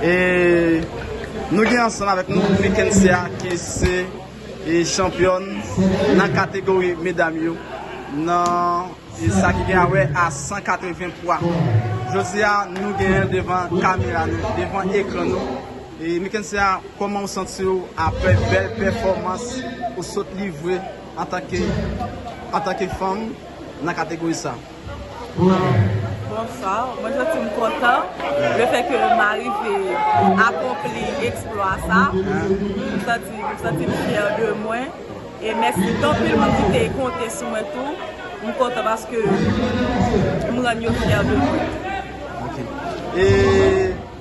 E nou gen ansanm avèk nou Mickensia ki se chanpyòn nan kategori medam yo nan sa ki gen a wè a 180 pwa. Jodi a nou genyen devan kamera nou, devan ekran nou. E Mickensia kòman ou santi ou aprè bèl pèfòmans ou sot livre antanke antanke fanm nan kategori sa? Bonsoir, mwen santi m kontan le fè ke m arive akonpli eksplwa sa, m santi m santi m fyè de mwen e mèsi tout anpil moun ki te konte sou mwen tou, m kontan paske m rann yo fyè de mwen.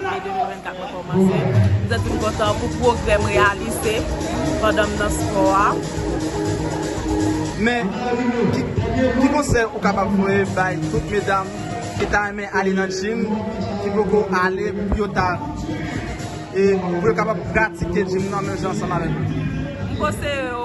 Ane 2024 mwen kòmanse. M santi m kontan pou pwogrè m reyalize pandan m nan spò a. Men, ki konsèy ou kapab voye bay tout medam ki ta renmen ale nan jim, ki poko ale pou yo ta e pou yo kapab pratike jim nan menm jan ansanm avèk ou? M konseye yo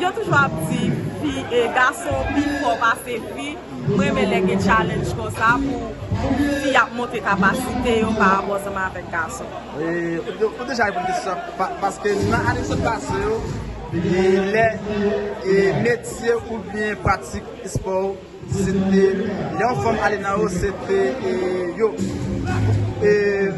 Yo toujou ap di fi e gason pi fò pase fi m renmen lè gen challenge konsa pou fi ap montre kapasite yo pa rapò ansanm avèk gason. Ou deja reponn kesyon sa paske nan ane ki sot pase yo lè metye oubyen pratik espò ou. Se te lè yon fanm ale nan yo se te yo e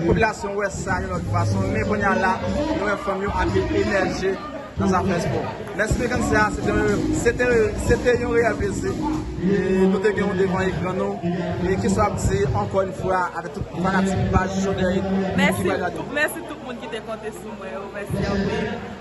popilasyon wè sa yon lòt fason men kounye a la nou wè fanm yo ap emèje nan zafè espò. Mèsi Frekan Sè a se te yon reyèl plezi nou te gen ou devan ekran nou e kisa w ap di ankò yon fwa avèk tout fanatik paj Jodha Edu ki pral gade w. Mèsi tout moun ki te konte sou mwen yo mèsi anpil.